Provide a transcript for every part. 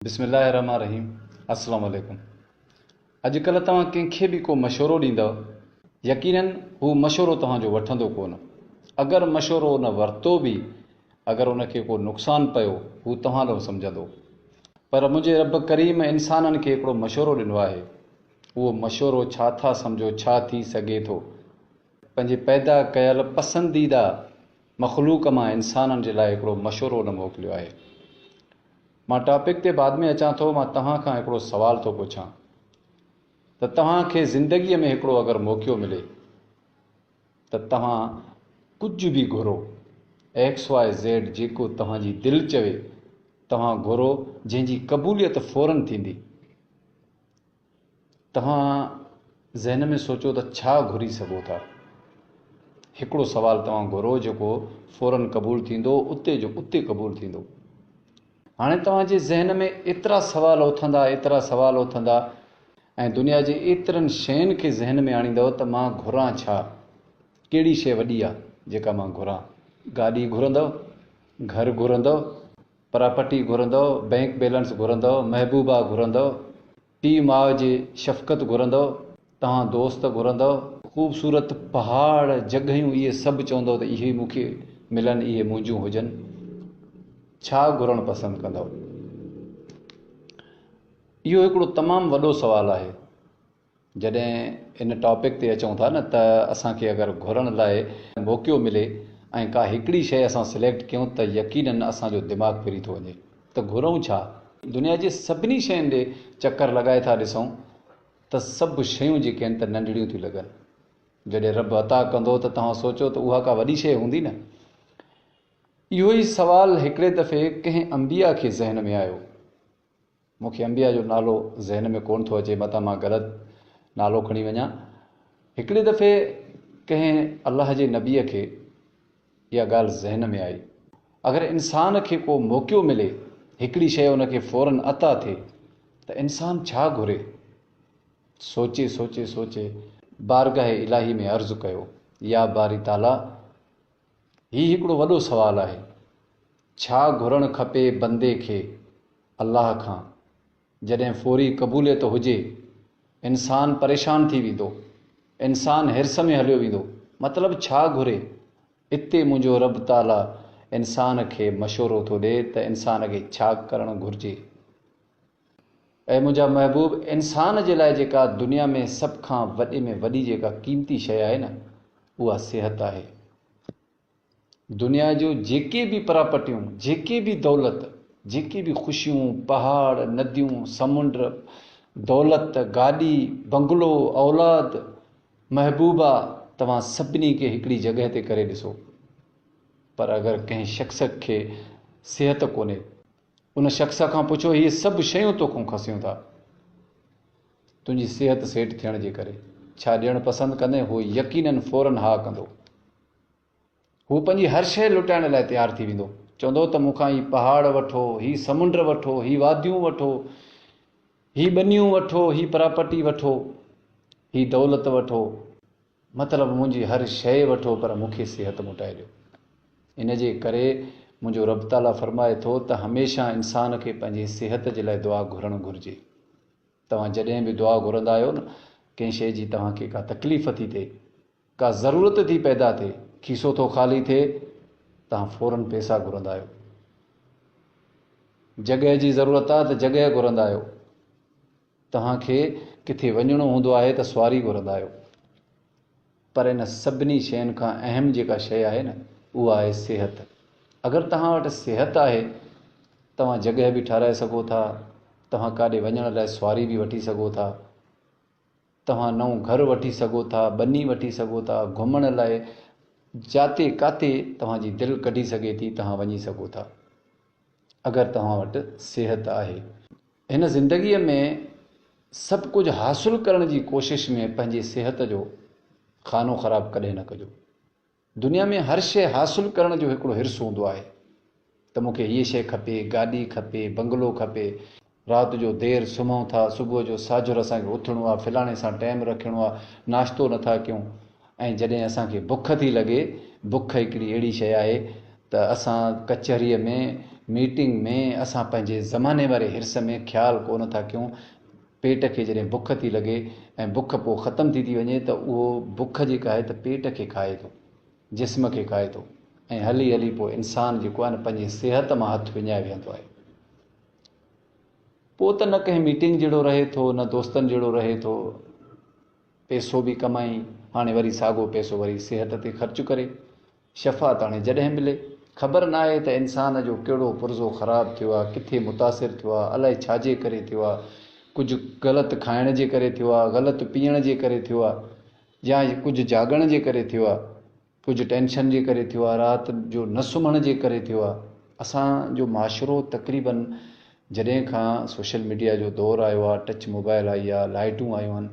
بسم الله الرحمٰن الرحيم السلام عليڪم اڄ ڪلهه توهان ڪنهن کي به ڪو مشورو ڏيندؤ يقيناً هو مشورو توهان جو وٺندو ڪونه اگر مشورو ان ورتو به اگر ان کي ڪو نقصان پيو هو توهان لئو سمجهندو پر منهنجي رب ڪريم انسانن کي هڪڙو مشورو ڏنو آهي اهو مشورو ڇا ٿا سمجهو ڇا ٿي سگهي ٿو پنهنجي پيدا ڪيل پسنديده مخلوق مان انسانن جي لاء هڪڙو مشورو ان موڪليو آهي مان ٽاپڪ تي بعد ۾ اچان ٿو مان توهان کان هڪڙو سوال ٿو پڇان ته توهان کي زندگي ۾ هڪڙو اگر موقعو ملي ته توهان ڪجهه به گهرو ايڪس واء زيڊ جيڪو توهان جي دل چوي توهان گهرو جنهن جي قبوليت فورن ٿيندي توهان ذهن ۾ سوچو ته ڇا گهري سگهو ٿا؟ هڪڙو سوال توهان گهرو جيڪو فورن قبول ٿيندو اتي جو اتي قبول ٿيندو. هاڻي توهان جي ذهن ۾ ايترا سوال اٿندا ايترا سوال اٿندا ۽ دنيا جي ايترن شين کي ذهن ۾ آڻيندؤ ته مان گهران ڇا؟ ڪهڙي شي وڏي آ جيڪا مان گهران؟ گاڏي گهرندؤ؟ گهر گهرندؤ؟ پراپرٽي گهرندو، بئنڪ بيلنس گهرندو، محبوبا گهرندو، پيء ماء جي شفقت گهرندو، توهان دوست گهرندو، خوبصورت پهاڙ جڳهيون اهي سڀ چوندو ته اهي مون کي ملن اهي منهنجون هجن ڇا گهرڻ پسند ڪندو؟ اهو هڪڙو تمام وڏو سوال آهي. جڏهن ان ٽاپڪ تي اچون ٿا نه ته اسان کي اگر گهرڻ لاء موقعو ملي ۽ ڪا هڪڙي شيء اسان سليڪٽ ڪيون ته يقينن اسان جو دماغ ڦري ٿو وڃي ته گهرئون ڇا؟ دنيا جي سڀني شين ڏي چڪر لڳائي ٿا ڏسئون ته سڀ شيون جيڪي آهن ته ننڍڙيون ٿيون لڳن. جڏهن رب عطا ڪندو ته توهان سوچو ته اها ڪا وڏي شيء هوندي نه؟ اهو ئي سوال هڪڙي دفعي ڪنهن انبياء کي ذهن ۾ آيو. مون کي انبيا جو نالو ذهن ۾ ڪونه ٿو اچي متان مان غلط نالو کڻي وڃان. هڪڙي دفعي ڪنهن الله جي نبيء کي اها ڳالهه ذهن ۾ آئي. اگر انسان کي ڪو موقعو ملي، هڪڙي شيء ان کي فوراً عطا ٿئي ته انسان ڇا گهري؟ سوچي سوچي سوچي بارگاهه الاهي ۾ عرض ڪيو، يا باري تعاليٰ! هي هڪڙو وڏو سوال آهي. ڇا گهرڻ کپي بندي کي الله کان؟ جڏهن فوري قبوليت هجي، انسان پريشان ٿي ويندو، انسان حرص ۾ هليو ويندو، مطلب ڇا گهري؟ اتي منهنجو رب تعاليٰ انسان کي مشورو ٿو ڏي ته انسان کي ڇا ڪرڻ گهرجي؟ اي منهنجا محبوب! انسان جي لاء جيڪا دنيا ۾ سڀ کان وڏي ۾ وڏي جيڪا قيمتي شيء آهي نه اها صحت آهي. دنيا جون جيڪي به پراپرٽيون، جيڪي به دولت، جيڪي به خوشيون، پهاڙ، نديون، سمنڊ، دولت، گاڏي، بنگلو، اولاد، محبوبا توهان سڀني کي هڪڙي جڳهه تي ڪري ڏسو پر اگر ڪنهن شخص کي صحت ڪونهي ان شخص کان پڇو هي سڀ شيون توکون کسيون ٿا تنهنجي صحت سيٽ ٿيڻ جي ڪري ڇا ڏيڻ پسند ڪندين هو يقينن فورن ها ڪندو هو پنهنجي هر شيء لٽائڻ لاء تيار ٿي ويندو چوندو ته مونکان هي پهاڙ وٺو هي سمنڊ وٺو هي واديون وٺو هي ٻنيون وٺو هي پراپرٽي وٺو هي دولت وٺو مطلب منهنجي هر شيء وٺو پر مون کي صحت موٽائي ڏيو. ان جي ڪري منهنجو رب تعاليٰ فرمائي ٿو ته هميشه انسان کي پنهنجي صحت جي لاء دعا گهرڻ گهرجي. توهان جڏهن به دعا گهرندا آهيو نه ڪنهن شيء جي توهان کي ڪا تڪليف ٿي ٿئي، ڪا ضرورت ٿي پيدا ٿئي، کيسو ٿو خالي ٿئي، توهان فورن پئسا گهرندا آهيو. جڳهه جي ضرورت آهي ته جڳهه گهرندا آهيو. توهان کي ڪٿي وڃڻو هوندو آهي ته سواري گهرندا آهيو پر ان سڀني شين کان اهم جيڪا شيء آهي نه اها آهي صحت اگر توهان وٽ صحت آهي توهان جڳهه به ٺهرائي سگهو ٿا توهان ڪاڏي وڃڻ لاء سواري به وٺي سگهو ٿا توهان نئون گهر وٺي سگهو ٿا ٻني وٺي سگهو ٿا گهمڻ لاء جاتي ڪاتي توهان جي دل ڪڍي سگهي ٿي توهان وڃي سگهو ٿا اگر توهان وٽ صحت آهي هن زندگيء ۾ سڀ ڪجهه حاصل ڪرڻ جي ڪوشش ۾ پنهنجي صحت جو خانو خراب ڪڏهن نه ڪجو. دنيا ۾ هر شيء حاصل ڪرڻ جو هڪڙو حرص هوندو آهي ته مون کي هيء شيء کپي، گاڏي کپي، بنگلو کپي، رات جو دير سمهون ٿا، صبح جو ساجهر اسان کي اٿڻو آهي، فلاڻي سان ٽيم رکڻو آهي، ناشتو نٿا ڪيون، ۽ جڏهن اسان کي بک ٿي لڳي، بک هڪڙي اهڙي شيء آهي ته اسان ڪچهريء ۾، ميٽنگ ۾، اسان پنهنجي زماني واري حرص ۾ خيال ڪو نه ٿا ڪيون. پيٽ کي جڏهن بک ٿي لڳي ۽ بک پوء ختم ٿي ٿي وڃي ته اهو بک جيڪا آهي ته پيٽ کي کائي ٿو، جسم کي کائي ٿو ۽ هلي هلي پوء انسان جيڪو آهي نه پنهنجي صحت مان هٿ وڃائي ويهندو آهي. پوء ته نه ڪنهن ميٽنگ جهڙو رهي ٿو، نه دوستن جهڙو رهي ٿو. پيسو به ڪمائي هاڻي وري ساڳو پيسو وري صحت تي خرچ ڪري. شفا ته هاڻي جڏهن ملي. خبر ناهي ته انسان جو ڪهڙو پرزو خراب ٿيو آ، ڪٿي متاثر ٿيو آ، الائي ڇاجي ڪري ٿيو آ، ڪجهه غلط کائڻ جي ڪري ٿيو آ، غلط پيئڻ جي ڪري ٿيو آ يا ڪجهه جاڳڻ جي ڪري ٿيو آ. ڪجهه ٽينشن جي ڪري ٿيو آهي، رات جو نه سمهڻ جي ڪري ٿيو آهي، اسان جو معاشرو تقريباً جڏهن کان سوشل ميڊيا جو دور آيو آهي، ٽچ موبائل آئي آهي، لائيٽون آيون آهن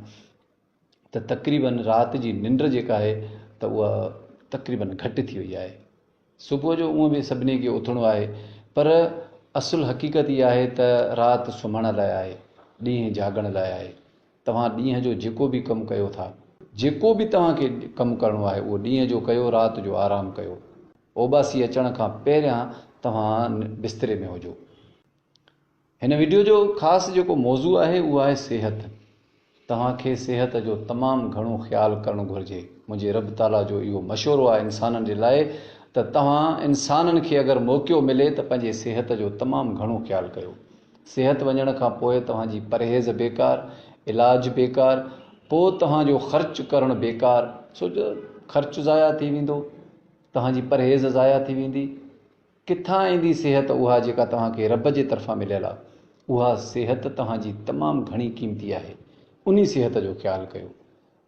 ته تقريباً رات جي ننڊ جيڪا آهي ته اها تقريباً گهٽ ٿي وئي آهي، صبح جو اونء به سڀني کي اٿڻو آهي پر اصل حقيقت اها آهي ته رات سمهڻ لاء آهي، ڏينهن جاڳڻ لاء آهي. توهان ڏينهن جو جيڪو به ڪم ڪيو ٿا، جيڪو به توهان کي ڪم ڪرڻو آهي اهو ڏينهن جو ڪيو، رات جو آرام ڪيو. اوٻاسي اچڻ کان پهريان توهان بستري ۾ هجو. هن وڊيو جو خاص جيڪو موضوع آهي اهو آهي صحت. توهان کي صحت جو تمام گهڻو خيال ڪرڻ گهرجي. منهنجي رب تعاليٰ جو اهو مشورو آهي انسانن جي لاء ته توهان انسانن کي اگر موقعو ملي ته پنهنجي صحت جو تمام گهڻو خيال ڪيو. صحت وڃڻ کان پوء توهان جي پرهيز بيڪار، علاج بيڪار، پوء توهان جو خرچ ڪرڻ بيڪار ڇو جو خرچ ضايع ٿي ويندو، توهان جي پرهيز ضايع ٿي ويندي، ڪٿان ايندي صحت اها جيڪا توهان کي رب جي طرفان مليل آهي، اها صحت توهان جي تمام گهڻي قيمتي آهي، انهي صحت جو خيال ڪيو.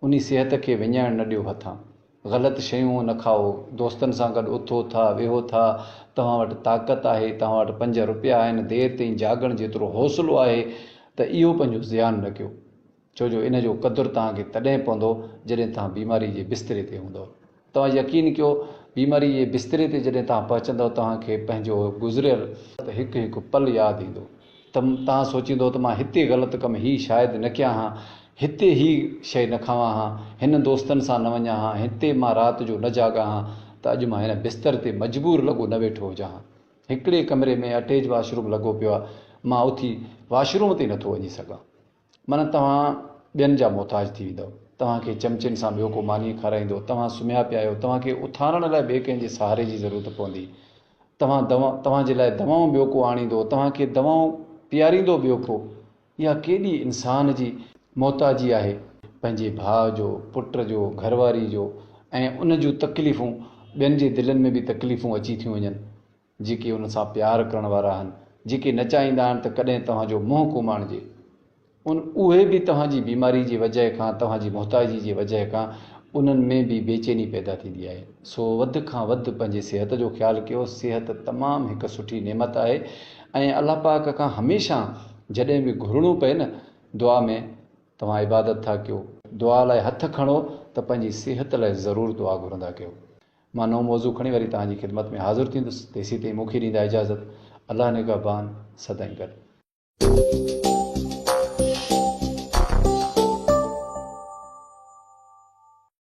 انھي صحت کي وڃائڻ نه ڏيو ھٿان. غلط شيون نه کائو. دوستن سان گڏ اٿو ٿا، ويھو ٿا. توھان وٽ طاقت آھي، توھان وٽ پنج روپيا آھن، دير تائين جاڳڻ جيترو حوصلو آھي ته اھو پنھنجو زيان نه ڪيو. ڇو جو ان جو قدر توھان کي تڏھن پوندو جڏھن توھان بيماري جي بستري تي ھوندؤ. توهان يقين ڪيو بيماريء جي بستري تي جڏهن توهان پهچندؤ توهان کي پنهنجو گذريل هڪ هڪ پل ياد ايندو ته توهان سوچيندؤ ته مان هتي غلط ڪم هي شايد نه ڪيان ها هتي هي شئي نه کاوان ها هنن دوستن سان نه وڃان ها هتي مان رات جو نه جاڳان ها ته اڄ مان هن بستر تي مجبور لڳو نه ويٺو هجان ها هڪڙي ڪمري ۾ اٽيج واش روم لڳو پيو آهي مان اٿي واش روم تي نه ٿو وڃي سگهان معنيٰ توهان ٻين جا محتاج ٿي ويندؤ، توهان کي چمچين سان ٻيو ڪو ماني کارائيندو، توهان سمهيا پيا آهيو، توهان کي اٿارڻ لاء ٻئي ڪنهن جي سهاري جي ضرورت پوندي، توهان توهان جي لاء دوائون ٻيو ڪو آڻيندو، توهان کي دوائون پياريندو ٻيو ڪو، اها ڪيڏي انسان جي محتاجي آهي، پنهنجي ڀاء جو، پٽ جو، گهر واري جو ۽ ان جون تڪليفون ٻين جي دلين ۾ به تڪليفون اچي ٿيون وڃن، جيڪي ان سان پيار ڪرڻ وارا آهن، جيڪي نه چاهيندا آهن ته ڪڏهن توهان جو منهن ڪوماڻجي، ان اهي به توهان جي بيماري جي وجهه کان، توهان جي محتاجي جي وجهه کان انهن ۾ به بيچيني پيدا ٿيندي آهي. سو وڌ کان وڌ پنهنجي صحت جو خيال ڪيو، صحت تمام هڪ سٺي نعمت آهي ۽ الله پاڪ کان هميشه جڏهن به گهرڻو پئي نه دعا ۾ توهان عبادت ٿا ڪيو، دعا لاء هٿ کڻو ته پنهنجي صحت لاء ضرور دعا گهرندا ڪيو، مان نئون موضوع کڻي وري توهان جي خدمت ۾ حاضر ٿيندس تيسيتائين مونکي ڏيندا اجازت الله نگهبان سدائين گڏ.